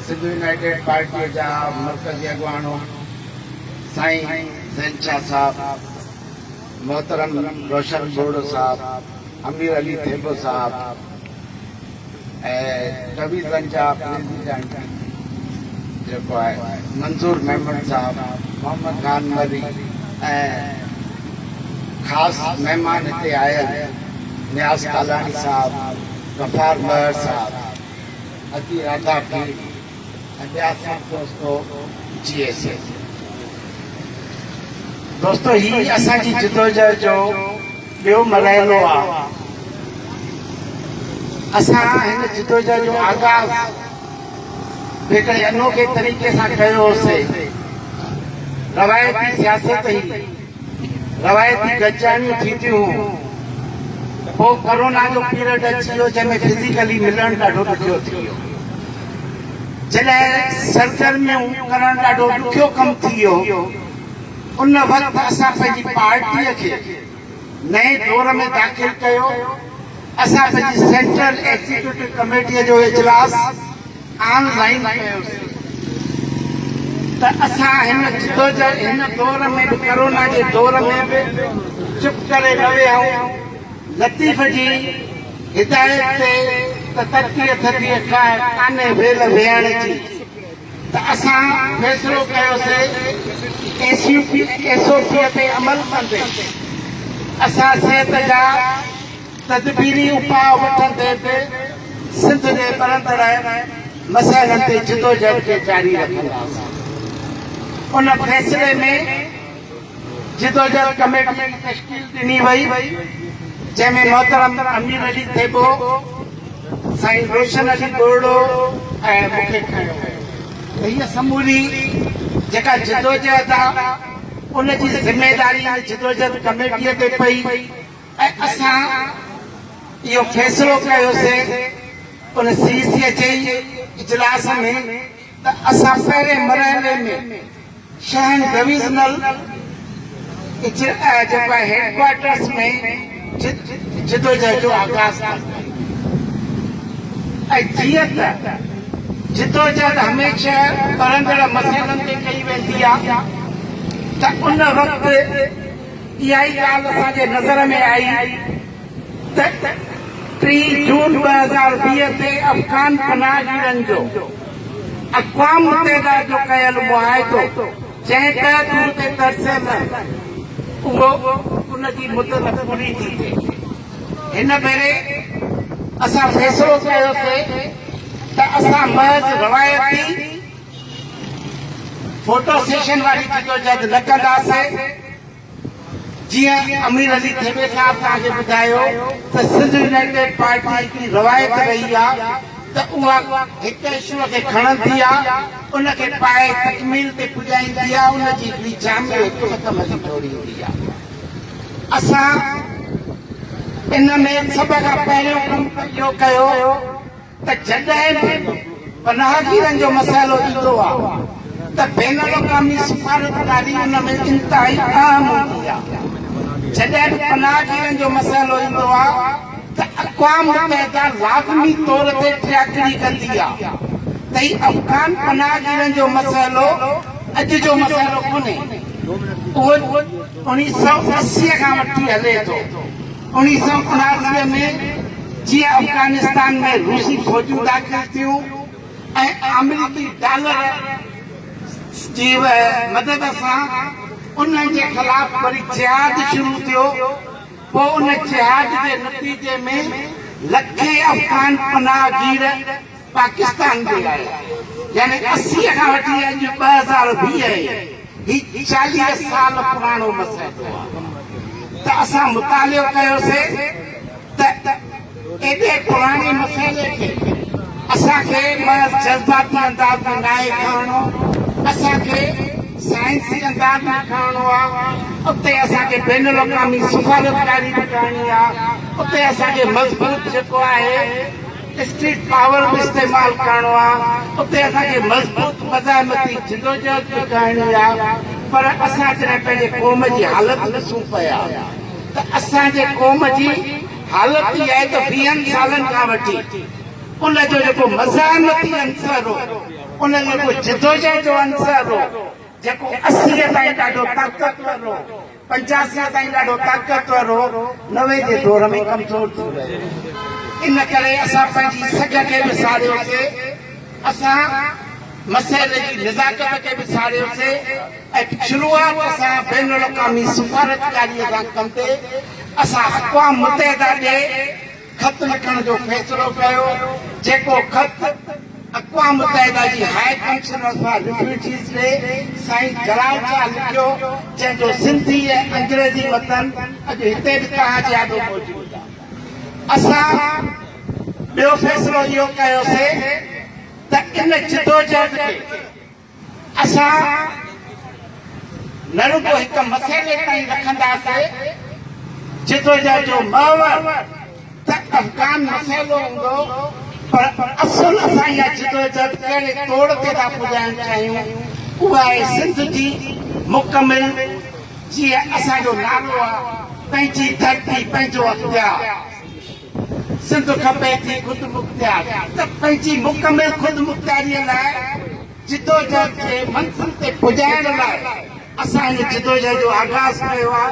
Sindh united پارٽيء جا مرڪزي اڳواڻ سائين زين شاهه صاحب، محترم روشن ٻوڙو صاحب، امير علي ٿيٻو صاحب ۽ قوي زن جا پريزيڊنٽ جيڪو آهي منظور ميمڻ صاحب، محمد خان مري ۽ خاص مهمان هتي آيل نياز ڪالاڻي صاحب، غفار مهر صاحب، اچي راڌا کي اڳيان سڏ دوستو جي ايس اي دوستو هي اسان جي جدوجهد جو ٻيو مرحلو آ اسان هن جدوجهد جو آغاز جيڪڏهن انوکي طريقي سان ڪيو هوسي روايتي سياست هي روايتي گڏجاڻيون ٿينديون هيون ته پوء ڪورونا جو پيرڊ اچي ويو جنهن ۾ فزيڪلي ملڻ ڏاڍو ڏکيو ٿي ويو. جڏهن سرگرميون ڪرڻ ڏاڍو ڏکيو ڪم ٿي ويو ان وقت اسان پنهنجي پارٽيء کي نئين دور ۾ داخل ڪيو. اسان پنهنجي سينٽرل ايگزيڪيوٽو ڪميٽيء جو اجلاس آن لائين ڪيوسين ته اسان هن جدوجهد هن دور ۾ به ڪرونا جي دور ۾ به چپ ڪري نه ويهائون لطيف جي هدايت تي ته ترڪيء ٿڌيء ڪاهه ڪانهي ويل ويهڻ جي ته اسان فيصلو ڪيوسي ايس او پيء تي عمل ڪندي اسان صحت جا تدبيري اپاء وٺندي به سنڌ جي ٻرندڙ مسئلن تي جدوجهد کي جاري رکنداسين. ان فيصلي ۾ جدوجهد ڪميٽي جي تشڪيل ڏني وئي، جنهن ۾ محترم امير علي ٿيٻو، سائين روشن علي ٻورڙو ۽ مون کي کنيو ويو ته هيء سموري جيڪا جدوجهد آهي، ان جي ذميواري ان جدوجهد ڪميٽيء تي پئي. ۽ اسان اهو فيصلو ڪيوسين ان سي سي ايڇ اي اجلاس ۾ ته اسان پهرين مرحلي ۾ شهن ڊويزنل جيڪو آهي هيڊڪوارٽرز ۾ جدوجهد جو آغاز ڪنداسين ۽ جيئن ته جدوجهد هميشه ٻرندڙ مسئلن تي ڪئي ويندي آهي ته ان وقت اها ئي ڳالهه اسان جي نظر ۾ آئي ته ٽيهه جون ٻه هزار ويهه تي افغان پناهگيرن جو اقوام متحده جو ڪيل معاهدو جنهن تحت هو اتي ترسيل رهن اهو ان جي مدت پوري ٿي ٿئي. هن ڀيري اسان فيصلو ڪيوسي ته اسان محض روايتي فوٽو سيشن واري جدوجھد نه ڪنداسين، جيئن امير علي ٿيٻي صاحب توهان کي ٻڌايو ته سنڌ يونائيٽيڊ پارٽي جي روايت رهي آ ته اها هڪ اشوء کي کڻندي آ ان کي پائي تڪميل تي پڄائيندي آ ان جي هڪڙي جامع حڪمت عملي جوڙيندي آ اسان ان ۾ سڀ کان پهريون ڪم اهو ڪيو ته جڏهن به پناهگيرن جو مسئلو ايندو آهي ته بين الاقوامي سفارتڪاري ان ۾ انتهائي اهم هوندي آهي. جڏهن به پناهگيرن جو مسئلو ايندو آهي ته اقوام متحده لازمي طور تي ٽياڪڙي ڪندي آهي ته هي افغان پناهگيرن جو مسئلو اڄ جو مسئلو ڪونهي. اهو اڻيهه سؤ اسي کان وٺي هلي ٿو. اوڻيهه سؤ اناڻوي ۾ جيئن افغانستان ۾ روسي فوجون داخل ٿيون ۽ آمريڪي ڊالر جي مدد سان انهن جي خلاف وري جهاد شروع ٿيو پوء ان جهاد جي نتيجي ۾ لکين افغان پناهگير پاڪستان جي لاء يعني اسي کان وٺي اڄ ٻه هزار ويهه هي چاليهه سال پراڻو مسئلو آ ته اسان مطالعو ڪيوسي ته ايڏي پراڻي مسئلي کي اسان کي محض جذباتي انداز ۾ ناهي کڻڻو اسان کي سائنسي انداز ۾ کڻڻو آ اتي اسان کي بين الاقوامي سفارتڪاري به ڪرڻي آ اتي اسان کي مضبوط جيڪو آهي اسٽريٽ پاور به استعمال ڪرڻو آ اتي اسان کي مضبوط مزاحمتي جدوجهد به ڪرڻي آ پر اسان جڏهن پنهنجي قوم جي حالت ڏسون پيا ته اسان جي قوم جي حالت اها آهي ته ويهن سالن کان وٺي ان جو جيڪو مزاحمتي عنصر هو ان جيڪو جدوجهد جو عنصر هو جيڪو اسيء تائين ڏاڍو طاقتور هو پنچاسين تائين ڏاڍو طاقتور هو، نوي جي دور ۾ ڪمزور ٿي ويو. ان ڪري اسان پنهنجي سگهه کي به ساڙيوسي، اسان مسئلي جي نزاڪت کي به ساڙيوسي ۽ شروعات سان بين الاقوامي سفارتڪاريء سان ڪندي اسان اقوام متحده ڏي خط لکڻ جو فيصلو ڪيو جيڪو خط اقوام متحده جي هاء ڪمشنر فار ريفيوجيز ڏي سائين جلال شاهه لکيو جنهن جو سنڌي ۽ انگريزي متن اڄ هتي به توهان جي آڏو موجود آهي اسان ٻيو فيصلو اهو ڪيوسي ته ان جدوجهد کي اسان نه رڳو هڪ مسئلي تائين رکنداسي جدوجهد جو محور ته افغان مسئلو هوندو پر اصل اسان اها جدوجهد ڪهڙي توڙ تي ٿا پڄائڻ چاهيون اها آهي سنڌ جي مڪمل جيئن اسان جو نالو آهي پنهنجي ڌرتي پنهنجو اختيار. سنڌ کپي ٿي خودمختيار ته پنهنجي مڪمل خودمختياري لاء جدوجهد کي منزل تي پڄائڻ لاء اسان هن جدوجهد جو آغاز ڪيو آ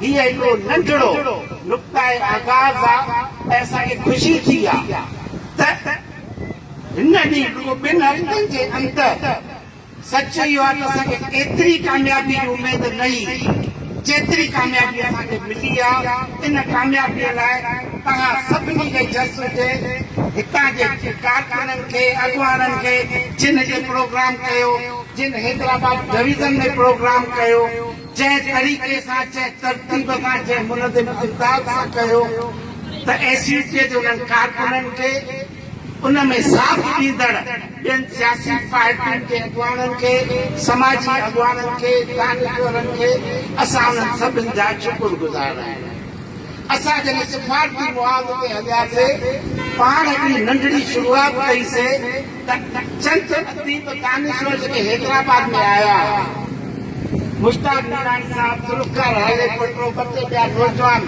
هيء هڪڙو ننڍڙو نقطائي آغاز آ ۽ اسان کي خوشي ٿي آ ته هن ڏينهن رڳو ٻن هفتن جي اندر سچ اهو آهي ته اسان کي ايتري ڪاميابي جي اميد نه هئي، جيتري ڪاميابي اسان کي ملي آهي، ان ڪاميابي لاء توهان سڀني کي جس هجي، هتان جي ڪارڪنن کي، اڳواڻن کي، جن هتي پروگرام ڪيو، جن حيدرآباد ڊويزن ۾ پروگرام ڪيو، جنهن طريقي سان، جنهن ترتيب سان، جنهن منظم انداز سان ڪيو ته ايس يو پي جي انهن ڪارڪنن کي، ان ۾ ساٿ ڏيندڙ ٻين سياسي پارٽين جي اڳواڻن کي، سماجي اڳواڻن کي، دانشورن کي اسان انهن سڀن جا شڪر گذار آهيون. اسان جڏهن سفارتي معاهدي تي هلياسي، پاڻ هڪڙي ننڍڙي شروعات ڪئي سي ته چند اديب دانشور جيڪي حيدرآباد ۾ آيا هئا، مشتاق ميراڻي صاحب، ذوالفقار هالي پٽو، ٻه ٽي ٻيا نوجوان،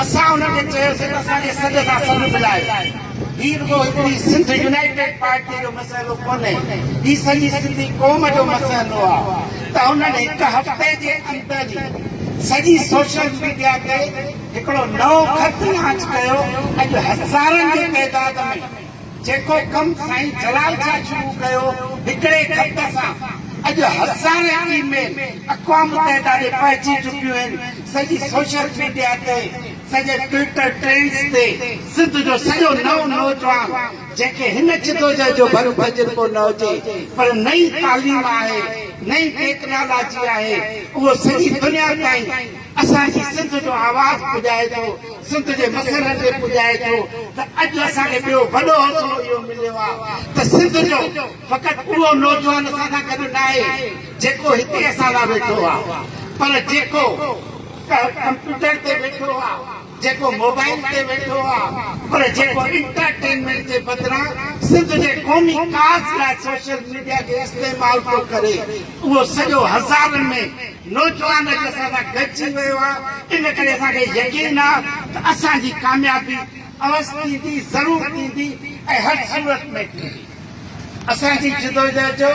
اسان انهن کي چيو سي ته اسان جي سڏ سان سڏ ملايو. هي رڳو هڪڙي سنڌ يونائيٽيڊ پارٽي جو مسئلو ڪونهي، هي سڄي سنڌي قوم جو مسئلو آ ته انهن هڪ هفتي جي اندر ئي سڄي سوشل ميڊيا تي هڪڙو نئون خط لانچ ڪيو، اڄ هزارن جي تعداد ۾ جيڪو ڪم سائين جلال شاهه شروع ڪيو، هڪڙي خط سان اڄ هزارين اي ميل اقوام متحده ڏي پهچي چڪيون آهن، سڄي سوشل ميڊيا تي. سڄي ٽوئيٽر ٽرينڊز تي سنڌ جو سڄو نئون نوجوان جنهن کي هن جدوجهد جو ڀلو تجربو نه هجي پر نئين تعليم آهي نئين ٽيڪنالاجي آهي اهو سڄي دنيا تائين اسان جي سنڌ جو آواز پڄائي ٿو سنڌ جي مسئلن تي پڄائي ٿو ته اڄ اسان کي ٻيو وڏو حوصلو اهو مليو آهي ته سنڌ جو فقط اهو نوجوان اسان سان گڏ ناهي جيڪو هتي اسان لاء ويٺو آهي پر جيڪو ڪا ڪمپيوٽر تي ويٺو آ جيڪو موبائيل تي ويٺو آ پر جيڪو انٽرٽينمينٽ جي بدران سنڌ جي قومي ڪاز لاء سوشل ميڊيا کي استعمال ٿو ڪري اهو سڄو هزارن ۾ نوجوان اڄ اسان سان گڏجي ويو آ ان ڪري اسان کي يقين آ ته اسان جي ڪاميابي اوستي ٿي ضرور ٿيندي ۽ هر صورت ۾ ٿيندي. اسان جي جدوجهد جو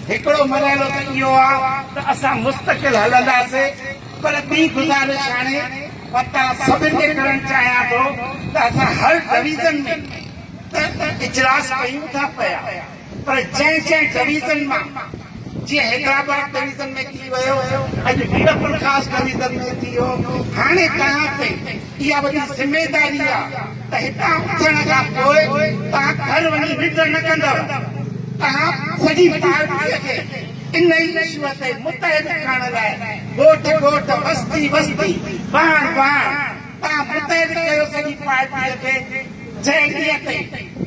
هڪڙو مرحلو ته اهو آ ته اسان مستقل هلنداسين پر ٻي گذارش هاڻي پتا سڀن کي ڪرڻ چاهيان ٿو ته اسان هر ڊويزن ۾ ته اجلاس ڪيون ٿا پيا پر جنهن جنهن ڊويزن مان جيئن حيدرآباد ڊويزن ۾ ٿي ويو اڄ ميرپورخاص ڊويزن ۾ ٿي ويو هاڻي تهان تائين اها وڏي ذميداري آهي ته هتان اٿڻ کان پوء توهان گهر وڃي ننڊ نه ڪندؤ. توهان سڄي پارٽيء کي ان ئي اشوء تي متحد ڪرڻ لاء ڳوٺ ڳوٺ، وستي وستي، واڻ واڻ توهان متحد ڪيو سڄي پارٽيء کي جهيڙيء تي.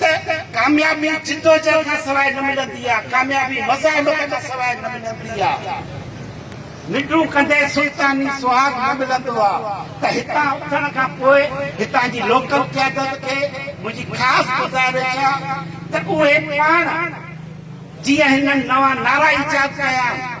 ته ڪاميابي جدوجهد کان سواء نه ملندي آهي، ڪاميابي مزاحمت کان سواء نه ملندي آهي. ننڊون ڪندي سلطاني سهاڳ نه ملندو آهي ته هتان اٿڻ کان پوء هتان جي لوڪل قيادت کي منهنجي خاص گذارش آهي ته اهي پاڻ جيئن هنن نوان نعرا ايجاد ڪيا آهن،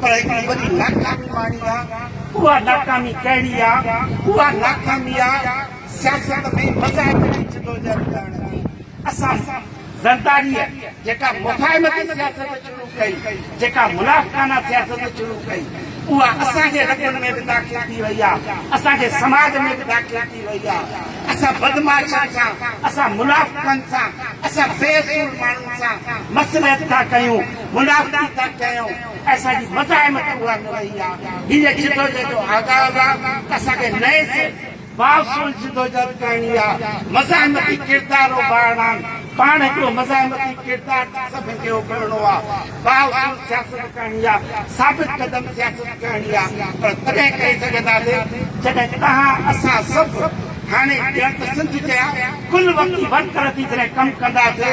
پر هڪڙي وڏي ناڪامي ماڻي آ، اها ناڪامي ڪهڙي آ؟ اها ناڪامي آ سياست ۾ مذاهب جي جدوجهد ڪرڻ جي. اسان زرداريء جيڪا مفاهمتي سياست شروع ڪئي، جيڪا منافقانه سياست شروع ڪئي، اها اسان جي رڳن ۾ به داخل ٿي وئي آ، اسان جي سماج ۾ به داخل ٿي وئي آ. اسان بدمعاشن سان، اسان منافقن سان، اسان بي اصول ماڻهن سان مصلحت ٿا ڪيون. منافقي ٿا ڪيون اسان جي مزاحمت اها نه رهي آ هي جدوجهد جو آغاز آ اسان کي نئين سر بااصول جدوجهد ڪرڻي آ مزاحمتي ڪردار اوڀارڻان پاڻ هڪڙو مزاحمتي ڪردار ٿي سڀن کي اوڀرڻو آ بااصول سياست ڪرڻي آ ثابت قدم سياست ڪرڻي آ پر تڏهن ڪري سگهنداسي جڏهن توهان اسان سڀ هاڻي ڄڻ ته سنڌ جيا ڪل وقتي ورڪر ٿي جڏهن ڪم ڪنداسي